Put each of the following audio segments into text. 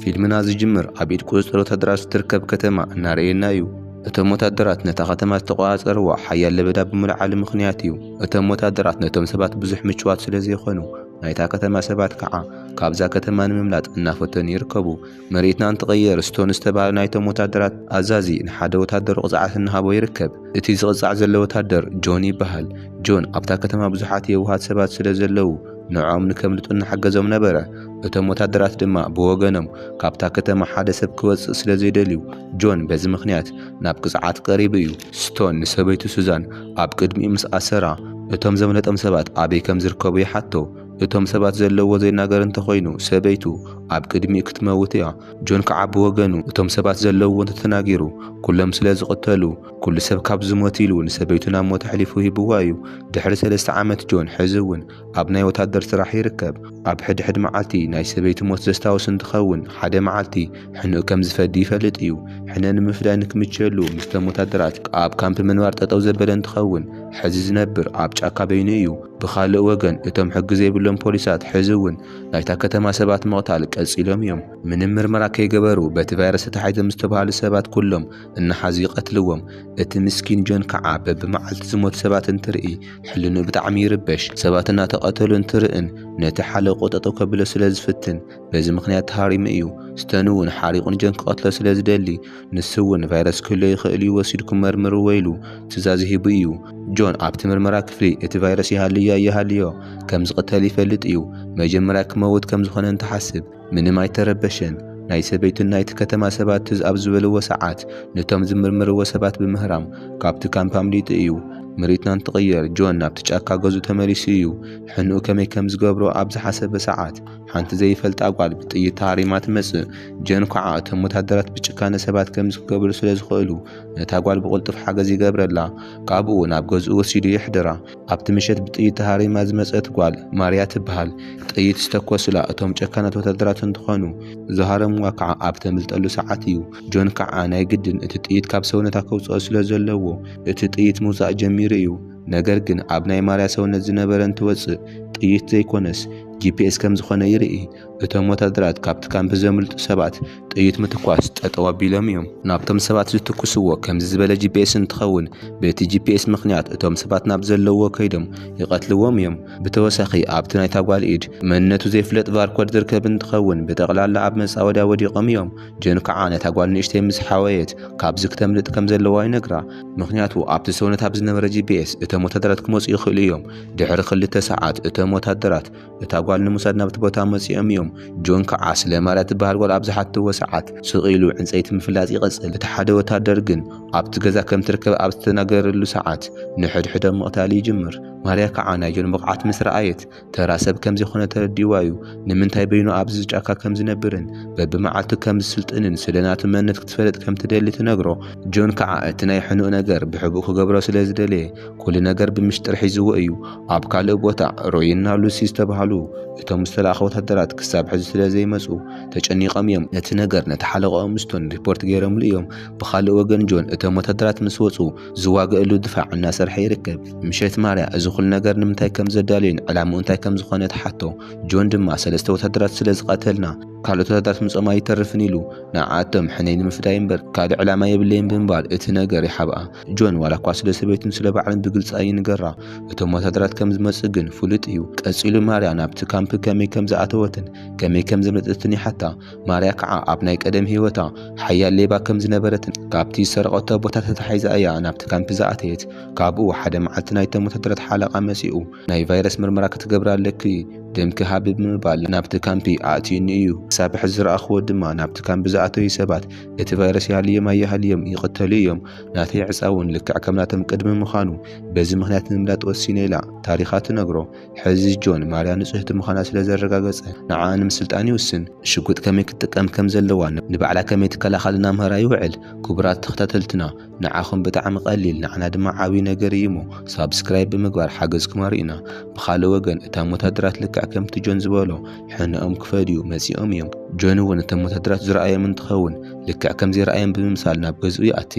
ፊልምና ዝጅምር ኣብ ኢድ ቁጽጽር ወተሃደራት እትርከብ ከተማ እናረኣየና እዩ። እቶም ወተሃደራት ነታ ከተማ ዝተቖጻጸርዋ ሓያል ለበዳ ብምልዓሉ ምኽንያት እዩ። እቶም ወተሃደራት ነቶም ሰባት ብዙሕ ምቹዋት ስለ ዘይኰኑ፣ ናይታ ከተማ ሰባት ከኣ ካብዛ ከተማ ንምምላጥ እናፈተኑ ይርከቡ። መሬትና እንትቕየር፣ ስቶን ዝተባህለ ናይቶም ወተሃደራት ኣዛዚ ንሓደ ወተሃደሩ ቅጽዓት እናሃቦ ይርከብ። እቲ ዝቕጻዕ ዘሎ ወተሃደር ጆን ይበሃል። ጆን፣ ኣብታ ከተማ ብዙሓት የዋሃት ሰባት ስለ ዘለዉ፣ ንዕኦም ንከምልጡ እናሓገዞም ነበረ። እቶም ወታደራት ድማ ብወገኖም ካብታ ከተማ ሓደ ሰብ ክወጽእ ስለ ዘይደልዩ፣ ጆን በዚ ምኽንያት ናብ ቅጽዓት ቀሪቡ እዩ። ስቶን ንሰበይቱ ሱዛን ኣብ ቅድሚኡ ምስ ኣሰራ፣ እቶም ዘምለጦም ሰባት ኣበይ ከም ዝርከቡ ይሓቶ። እቶም ሰባት ዘለዉዎ ዘይናገር እንተ ዀይኑ፣ ሰበይቱ ኣብ ቅድሚኡ ክትመውት እያ። ጆን ከኣ ብወገኑ እቶም ሰባት ዘለዉዎ እንተ ተናጊሩ፣ ኵሎም ስለ ዝቕተሉ፣ ኩሉ ሰብ ካብ ዝሞት ኢሉ ንሰበይቱ ናብ ሞት ኣሕሊፉ ሂብዋ እዩ። ድሕሪ ሰለስተ ዓመት ጆን ሕዚ እውን ኣብ ናይ ወታደር ስራሕ ይርከብ። ኣብ ሕድሕድ መዓልቲ ናይ ሰበይቱ ሞት ዘስታውስ እንትኸውን ሓደ መዓልቲ ሕንኡ ከም ዝፈዲ ይፈልጥ እዩ። ሕነ ንምፍዳይ ንክምችየሉ ምስቶም ወታደራት ኣብ ካምፕ ምንባር ጠጠው ዘበለ እንትኸውን ሕዚ ዝነብር ኣብ ጫካ በይኑ እዩ። ብኻልእ ወገን እቶም ሕጊ ዘይብሎም ፖሊሳት ሕዚ እውን ናይታ ከተማ ሰባት ምቕታል ቀፂሎም እዮም። ምንም ምርመራ ከይገበሩ በቲ ቫይረስ ተታሒዞም ዝተብሃሉ ሰባት ኩሎም እናሓዙ ይቐትልዎም። እቲ ምስኪን ጆን ከዓ በብመዓልቱ ዝሞቱ ሰባት እንትርኢ ሕልንኡ ብጣዕሚ ይርበሽ። ሰባት እናተቐተሉ እንትርእን ነቲ ሓለቕኡ ጠጠው ከብሎ ስለ ዝፍትን በዚ ምኽንያት ተሃሪሙ እዩ። ስተን እውን ሓሪቑ ንጆን ክቐትሎ ስለ ዝደሊ ንሱ እውን ቫይረስ ክህልዎ ይኽእል እዩ ወሲድኩም መርምርዎ ኢሉ ትእዛዝ ሂቡ እዩ። ጆን ኣብቲ ምርመራ ክፍሊ እቲ ቫይረስ ይሃልዮ ኣይሃልዮ ከም ዝቕተል ይፈልጥ እዩ። መጀመርያ ክመውት ከም ዝኾነ እንትሓስብ ምንም ኣይተረበሸን። ናይ ሰበይቱን ናይቲ ከተማ ሰባት ትዝ ኣብ ዝበልዎ ሰዓት ነቶም ዝምርምርዎ ሰባት ብምህራም ካብቲ ካምፕ ኣምሊጡ እዩ። ምርኢትና እንትቕየር ጆን ናብቲ ጫካ ገዝኡ ተመሊሱ እዩ። ሕንኡ ከመይ ከም ዝገብሮ ኣብ ዝሓሰበ ሰዓት ሓንቲ ዘይፈልጣ ጓል ብጥይት ተሃሪማ ትመጽእ። ጆን ኳዓ እቶም ወታደራት ብጭካነ ሰባት ከምዚ ክገብሩ ስለ ዝኽእሉ ነታ ጓል ብቕልጡፍ ሓገዝ ይገብረላ። ካብኡ ናብ ገዝኡ ወሲዱ የሕድራ። ኣብቲ ምሸት ብጥይት ተሃሪማ ዝመጸት ጓል ማርያ ትብሃል ጥይት ዝተኮሱላ እቶም ጨካናት ወታደራት እንትኾኑ ዝሃረምዋ ከዓ ኣብ ተምልጠሉ ሰዓት እዩ። ጆን ከዓ ናይ ግድን እቲ ጥይት ካብ ሰውነታ ከውጽኦ ስለዘለዎ እቲ ጥይት ምውጻእ ጀሚሩ እዩ። ነገር ግን ኣብ ናይ ማርያ ሰውነት ዝነበረ እንትወጽእ ጥይት ዘይኮነስ ጂፒኤስ ከምዝኾነ ይርኢ። እቶም ወታደራት ካብቲ ካምፕ ዘምልጡ ሰባት ጥይት ምትኳስ ጠጠው ኣቢሎም እዮም። ናብቶም ሰባት ዝትኩስዎ ከምዚ ዝበለ ጂፒኤስ እንትኸውን በቲ ጂፒኤስ ምኽንያት እቶም ሰባት ናብ ዘለውዎ ከይዶም ይቐትልዎም እዮም። ብተወሳኺ ኣብቲ ናይታ ጓል ኢድ መንነቱ ዘይፍለጥ ቫርኮድ ዝርከብ እንትኸውን ብጠቕላላ ኣብ መፃወድያ ወዲቖም እዮም። ጆን ከዓ ነታ ጓል ንእሽተይ ምስ ሓወየት ካብዚ ክተምልጥ ከምዘለዋ ይነግራ። ምኽንያቱ ኣብቲ ሰውነታ ብዝነበረ ጂፒኤስ እቶም ወታደራት ክመፁ ይኽእሉ እዮም። ድሕሪ ክልተ ሰዓት እቶም ወታደራት። እታ ጓል ንምውሳድ ናብቲ ቦታ መጺኦም እዮም። ጆን ከኣ ስለ ማርያ እትበሃል ጓል ኣብ ዝሓተትዎ ሰዓት ስቕ ኢሉ ዕንጸይቲ ምፍላጥ ይቕጽል። እቲ ሓደ ወተሃደር ግን ኣብቲ ገዛ ከም እትርከብ ኣብ ዝተናገረሉ ሰዓት ንሕድሕዶም ምቕታል ይጅምር። ማርያ ከኣ ናይ ጆን ብቕዓት ምስ ረኣየት ተራ ሰብ ከም ዘይኮነ ተረዲእዋ እዩ። ንምንታይ በይኑ ኣብዚ ጫካ ከም ዝነብርን በብመዓልቱ ከም ዝስልጥንን ስለ ናቱ መንነት ክትፈልጥ ከም እትደሊ ትነግሮ። ጆን ከኣ እቲ ናይ ሕኑእ ነገር ብሕቡእ ክገብሮ ስለ ዝደለየ ኩሉ ነገር ብምሽጥር ሒዝዎ እዩ። ኣብ ካልእ ቦታ ሮይና ሉሲ ዝተባህሉ እቶም ዝተላእከ ወተሃደራት ክሳብ ሕዚ ስለ ዘይመጹ ተጨኒቖም እዮም። ነቲ ነገር ነቲ ሓለቓኦም ስቶን ሪፖርት ገይሮምሉ እዮም። ብኻልእ ወገን ጆን እቶም ወተሃደራት ምስ ወጹ ዝዋገእሉ ድፋዕ እናሰርሐ ይርከብ። ምሸት ማርያ እዚ ኩሉ ነገር ንምንታይ ከም ዘዳለዮን ዕላምኡ እንታይ ከም ዝኾነ ትሓቶ። ጆን ድማ ሰለስተ ወተሃደራት ስለ ዝቐተልና ካልኦት ወተሃደራት ምጽኦም ኣይተርፍን ኢሉ ንዓኣቶም ሕነይ ንምፍዳይ እምበር ካልእ ዕላማ የብለይን ብምባል እቲ ነገር ይሓብኣ። ጆን ዋላ እኳ ስለ ሰበይቱን ስለ ባዕሉን ብግልጺ ኣይንገራ፣ እቶም ወተሃደራት ከም ዝመጽኡ ግን ፍሉጥ እዩ። ቀጺሉ ማርያ ናብቲ ካምፕ ከመይ ከም ዝኣተወትን ከመይ ከም ዘምለጠትን ይሓታ። ማርያ ከኣ ኣብ ናይ ቀደም ህይወታ ሓያል ሌባ ከም ዝነበረትን ካብቲ ዝሰረቐቶ ቦታ ተታሒዛ እያ ናብቲ ካምፕ ዝኣተየት። ካብኡ ሓደ መዓልቲ ናይቶም ወተሃደራት ሓለቓ መጺኡ ናይ ቫይረስ ምርመራ ክትገብሪ ኣለኪ ደምኪ ሃቢ ብምባል ናብቲ ካምፕ ኣእትዩኒ እዩ። ክሳብ ሕጂ ዝረኣኹዎ ድማ ናብቲ ካምፕ ዝኣተዩ ሰባት እቲ ቫይረስ ይሃልዮም ኣይሃልዮም ይቕተሉ እዮም፣ ናተይ ዕጻ እውን ልክዕ ከም ናቶም ቅድሚ ምዃኑ፣ በዚ ምኽንያት ንምምላጥ ወሲነ ኢላ ታሪኻ ትነግሮ። ሕዚ ጆን፣ ማርያ ንጽህቲ ምዃና ስለ ዘረጋገጸ፣ ንዓኣ ንምስልጣን ይውስን። ሽጉጥ ከመይ ክትጥቀም ከም ዘለዋ፣ ንባዕላ ከመይ ትከላኸል እናምሃራ ይውዕል። ክቡራት ተኸታተልትና! ንዓኹም ብጣዕሚ ቀሊል ንዓና ድማ ዓብይ ነገር እዩሞ ሳብስክራይብ ብምግባር ሓገዝኩም ኣርእዩና። ብኻልእ ወገን እታም ወታደራት ልክዕ ከምቲ ጆን ዝበሎ ሕነኦም ክፈድዩ መፂኦም እዮም። ጆን እውን እቶም ወታደራት ዝረኣዮም እንትኸውን ልክዕ ከምዘይረኣዮም ብምምሳል ናብ ገዝኡ ይኣቲ።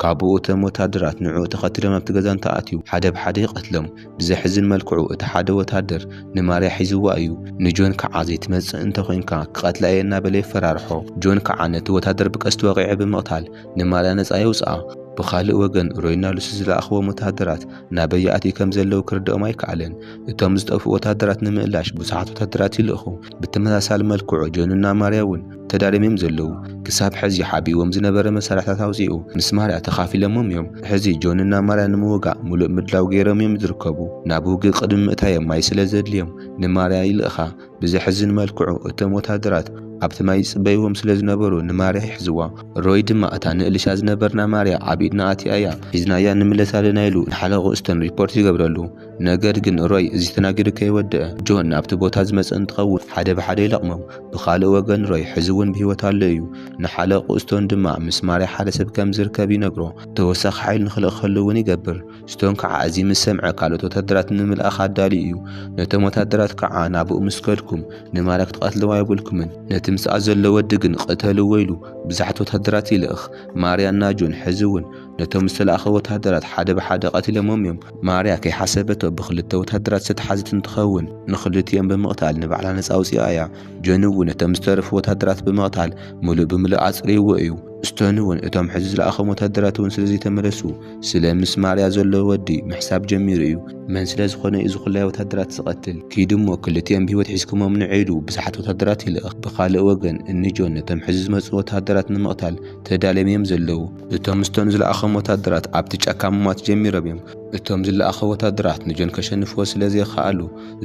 ካቡኡ እቶም ወታደራት ንዕኡ ተኸቲሎም ናብቲ ገዛ እንተኣትዩ ሓደ ብሓደ ይቐትሎም። ብዘሕዝን መልክዑ እቲ ሓደ ወታደር ንማርያ ሒዝዋ እዩ። ንጆን ከዓ ዘይትመፅእ እንተኾይንካ ክቐትላ እየ እናበለ የፈራርሖ። ጆን ከዓ ነቲ ወታደር ብቀስቲ ወቒዑ ብምቕታል ንማልያ ነጻ የውጽኣ። ብኻልእ ወገን፣ ሮይና ሉሲ ዝለኣኽዎም ወተሃደራት ናበይ ይኣትዩ ከም ዘለዉ ክርድኦም ኣይከኣለን። እቶም ዝጠፍኡ ወተሃደራት ንምእላሽ ብዙሓት ወተሃደራት ይልእኹ። ብተመሳሳሊ መልክዑ፣ ጆንና ማርያ እውን ተዳልዮም እዮም ዘለዉ። ክሳብ ሕዚ ሓቢእዎም ዝነበረ መሳርሕታት ኣውጺኡ ምስ ማርያ ተኻፊሎሞም እዮም። ሕዚ ጆንና ማርያ ንምውጋእ ምሉእ ምድላው ገይሮም እዮም ዝርከቡ። ናብ ውግእ ቅድሚ ምእታዮም ማይ ስለ ዘድልዮም ንማርያ ይልእኻ። ብዘሕዝን መልክዑ እቶም ወተሃደራት ኣብቲ ማይ ይጽበይዎም ስለ ዝነበሩ ንማርያ ይሕዝዋ። ሮይ ድማ እታ ንእልሻ ዝነበርና ማርያ ኣብ ኢድና ኣትያ'ያ ሒዝናያ ንምለስ ኣለና ኢሉ ንሓለቕኡ ስተን ሪፖርት ይገብረሉ። ነገር ግን ሮይ እዚ ተናጊሩ ከይወደኣ ጆን ናብቲ ቦታ ዝመጸ እንትኸውን ሓደ ብሓደ ይለቕሞም። ብኻልእ ወገን ሮይ ሕዚ'ውን ብህይወት ኣሎ እዩ። ንሓለቕኡ ስቶን ድማ ምስ ማርያ ሓደ ሰብ ከም ዝርከብ ይነግሮ ተወሳኺ ሓይሊ ንኽልእከሉ'ውን ይገብር። ስቶን ከዓ እዚ ምስ ሰምዐ ካልኦት ወታደራት ንምልኣኽ ኣዳልዩ እዩ። ነቶም ወታደራት ከዓ ናብኡ ምስ ከድኩም ንማርያ ክትቐትልዋ የብልኩምን፣ ነቲ ምስኣ ዘሎ ወዲ ግን ቕተልዎ ኢሉ ብዙሓት ወታደራት ይልእኽ። ማርያ እና ጆን ሕዚ እውን ነቶም ዝተላእኸ ወታደራት ሓደ ብሓደ ቐቲሎሞም እዮም። ማርያ ከይሓሰበቶ ብኽልተ ወታደራት ዝተትሓዘት እንትኸውን ንኽልቲኦም ብምቕታል ንባዕላ ነፃ ኣውፂኣ እያ። ጆን እውን ነቶም ዝተረፉ ወታደራት ብምቕታል ምሉእ ብምሉእ ኣፅርይዎ እዩ። ስቶን እውን እቶም ሕዚ ዝለኣኾም ወታደራት እውን ስለዘይተመለሱ፣ ስለ ምስ ማርያ ዘሎ ወዲ ምሕሳብ ጀሚሩ እዩ። መን ስለ ዝኾነ እዩ ዝኹላይ ወታደራት ዝቐትል? ኪዱ እሞ ክልቲኦም ብህይወት ሒዝኩሞም ንዑ ኢሉ ብዙሓት ወታደራት ይልእኽ። ብኻልእ ወገን እኒ ጆን ነቶም ሕዚ ዝመጽኡ ወታደራት ንምቕታል ተዳልዮም እዮም ዘለዉ። እቶም ስቶን ዝለኣኾም ወታደራት ኣብቲ ጫካ ምሟት ጀሚሮም እዮም። እቶም ዝለኣኹ ወታደራት ንጆን ከሸንፍዎ ስለ ዘይኸኣሉ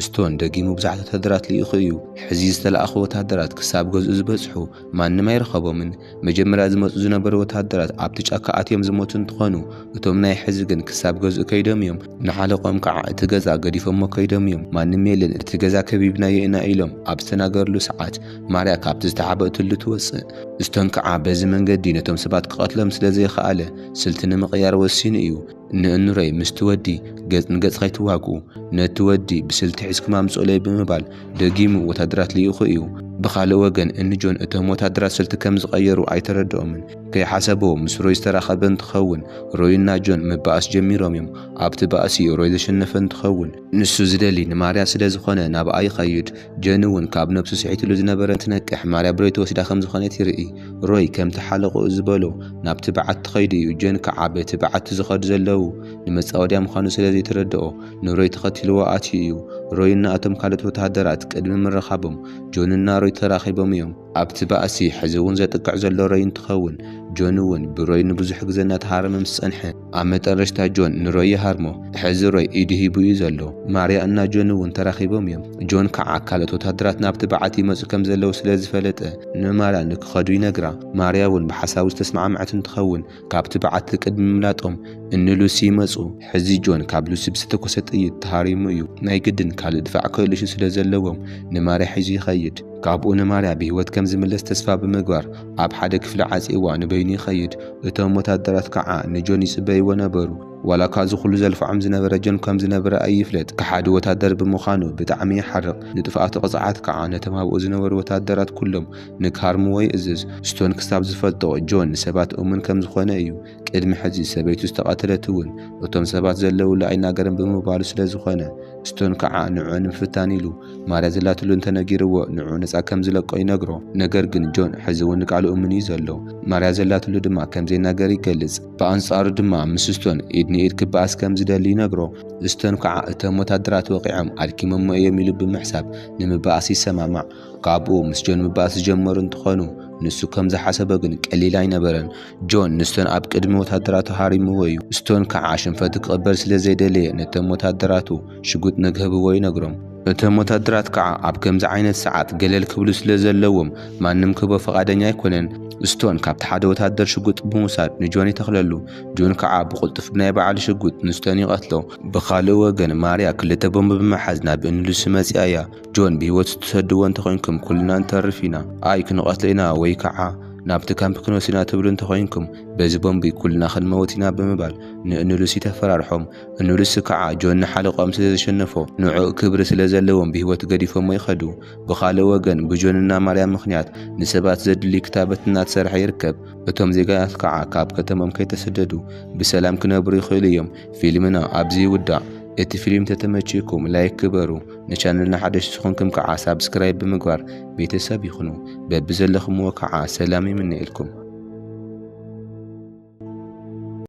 ስቶን ደጊሙ ብዙሓት ወታደራት ልኢኹ እዩ። ሕዚ ዝተላእኹ ወታደራት ክሳብ ገዝኡ ዝበጽሑ ማንም ኣይረኸቦምን። መጀመርያ ዝመጹ ዝነበሩ ወተሃደራት ኣብቲ ጫካ ኣትዮም ዝሞቱ እንትኾኑ እቶም ናይ ሕዚ ግን ክሳብ ገዝኡ ከይዶም እዮም ንሓለቆኦም ከዓ እቲ ገዛ ገዲፎሞ ከይዶም እዮም ማንም የለን እቲ ገዛ ከቢብናዮ ኢና ኢሎም ኣብ ዝተናገርሉ ሰዓት ማርያ ካብቲ ዝተሓበእትሉ ትወጽእ ስቶን ከዓ በዚ መንገዲ ነቶም ሰባት ክቀትሎም ስለዘይኸኣለ ስልቲ ንምቅያር ወሲኑ እዩ ንእኑረይ ምስቲ ወዲ ገጽ ንገጽ ከይትዋግኡ፣ ነቲ ወዲ ብስልቲ ሒዝኩም ኣምጽኡለይ ብምባል ደጊሙ ወተሃደራት ልኢኹ እዩ። ብኻልእ ወገን እኒ ጆን እቶም ወተሃደራት ስልቲ ከም ዝቐየሩ ኣይተረድኦምን። ከይሓሰብዎ ምስ ሮይ ዝተራኸበ እንትኸውን፣ ሮይና ጆን ምባኣስ ጀሚሮም እዮም። ኣብቲ ባእሲ ሮይ ዘሸነፈ እንትኸውን፣ ንሱ ዝደሊ ንማርያ ስለ ዝኾነ ናብኣ ይኸይድ። ጀን እውን ካብ ነብሱ ስሒትሉ ዝነበረ እንትነቅሕ ማርያ ብሮይ ትወስዳ ከም ዝኾነት ይርኢ። ሮይ ከምቲ ሓለቕኡ ዝበሎ ናብቲ በዓቲ ኸይዱ እዩ ጀን ከዓ በቲ በዓቲ ዝኸዱ ዘለዉ ንመፃወድያ ምዃኑ ስለ ዘይተረድኦ ንሮይ ተኸቲልዎ ኣትዩ እዩ። ሮይ እና እቶም ካልኦት ወተሃደራት ቅድሚ ምርኻቦም ጆን እና ሮይ ተራኺቦም እዮም። ኣብቲ ባእሲ ሕዚ እውን ዘጥቅዕ ዘሎ ሮይ እንትኸውን ጆን እውን ብሮይ ንብዙሕ ግዘ እናተሃረመ ምስ ፀንሐ፣ ኣብ መጠረሽታ ጆን ንሮይ ይሃርሞ። ሕዚ ሮይ ኢዱ ሂቡ እዩ ዘሎ። ማርያ እና ጆን እውን ተራኺቦም እዮም። ጆን ከዓ ካልኦት ወታደራት ናብቲ በዓቲ ይመፁ ከም ዘለዉ ስለ ዝፈለጠ ንማርያ ንክኸዱ ይነግራ። ማርያ እውን ብሓሳቡ ዝተስማዕመዐት እንትኸውን ካብቲ በዓቲ ቅድሚ ምምላጦም እኒ ሉሲ ይመፁ። ሕዚ ጆን ካብ ሉሲ ብዝተተኮሰ ጥይት ተሃሪሙ እዩ። ናይ ግድን ካልእ ድፋዕ ክህልሹ ስለ ዘለዎም ንማርያ ሒዙ ይኸይድ። ካብኡ ንማርያ ብህይወት ከም ዝምለስ ተስፋ ብምግባር ኣብ ሓደ ክፍሊ ዓጽይዋ ንበይኑ ይኸይድ። እቶም ወተሃደራት ከኣ ንጆን ይጽበይዎ ነበሩ። ዋላ እኳ እዚ ኹሉ ዘልፍዖም ዝነበረ ጆን ከም ዝነበረ ኣይፍለጥ ከሓዲ ወተሃደር ብምዃኑ ብጣዕሚ ይሓርቕ። ንጥፍኣቱ ቅጽዓት ከኣ ነቶም ኣብኡ ዝነበሩ ወተሃደራት ኩሎም ንክሃርምዎ ይእዝዝ። ስቶን ክሳብ ዝፈልጦ ጆን ንሰባት እሙን ከም ዝኾነ እዩ። ቅድሚ ሕዚ ሰበይቱ ዝተቐተለት እውን እቶም ሰባት ዘለውሉ ኣይናገርን ብምባሉ ስለ ዝኾነ ስቶን ከዓ ንዕዑ ንምፍታን ኢሉ ማርያ ዘላትሉ እንተነጊርዎ ንዕዑ ነፃ ከም ዝለቆ ይነግሮ። ነገር ግን ጆን ሕዚ እውን ንቃሉ እሙን እዩ ዘሎ። ማርያ ዘላትሉ ድማ ከም ዘይናገር ይገልፅ። ብኣንፃሩ ድማ ምስ ስቶን ኢድ ንኢድ ክበኣስ ከም ዝደሊ ይነግሮ። ስቶን ከዓ እቶም ወታደራት ወቒዖም ኣድኪሞሞ እዮም ኢሉ ብምሕሳብ ንምበኣስ ይሰማማዕ። ካብኡ ምስ ጆን ምባእስ ዝጀመሩ እንትኾኑ ንሱ ከም ዝሓሰቦ ግን ቀሊል ኣይነበረን። ጆን ንስቶን ኣብ ቅድሚ ወተሃደራቱ ሃሪምዎ እዩ። ስቶን ከዓ ሽንፈቱ ክቕበል ስለ ዘይደለየ ነቶም ወተሃደራቱ ሽጉጥ ንክህብዎ ይነግሮም። እቶም ወተሃደራት ከዓ ኣብ ከምዚ ዓይነት ሰዓት ገለል ክብሉ ስለ ዘለዎም ማንም ክህቦ ፍቓደኛ ኣይኮነን። ስቶን ካብቲ ሓደ ወተሃደር ሽጉጥ ብምውሳድ ንጆን ይተኽለሉ። ጆን ከዓ ብቕልጡፍ ብናይ ባዕሉ ሽጉጥ ንስቶን ይቐትሎ። ብኻልእ ወገን ማርያ ክልተ ቦምብ ብምሓዝ ናብ እኒ ሉሲ መፂኣ እያ። ጆን ብህይወት ትሰድዎ እንተኾይንኩም ኩልና ንተርፍ ኢና ኣይ ክንቐትሎ ኢና ወይ ካዓ ናብቲ ካምፕ ክንወስድ ኢና ትብሉ እንተኾይንኩም በዚ ቦምቢ ኩልና ክንመውት ኢና ብምባል ንእንሉሲ ተፈራርሖም እንሉሲ ካዓ ጆን ንሓለቆኦም ስለዘሸነፎ ንዑኡ ክብሪ ስለዘለዎም ብህይወት ገዲፎሞ ይኸዱ ብኻልእ ወገን ብጆን እና ማርያም ምኽንያት ንሰባት ዘድሊ ክታበት እናተሰርሐ ይርከብ እቶም ዜጋታት ካዓ ካብ ከተሞም ከይተሰደዱ ብሰላም ክነብሩ ይኽእሉ እዮም ፊልምና ኣብዚ ይውዳእ እቲ ፊልም ተተመቺእኩም ላይክ ግበሩ ንቻነልና ሓደሽቲ ዝኾንኩም ከዓ ሳብስክራይብ ብምግባር ቤተሰብ ይኹኑ። በብዘለኹምዎ ከዓ ሰላም ይምነየልኩም።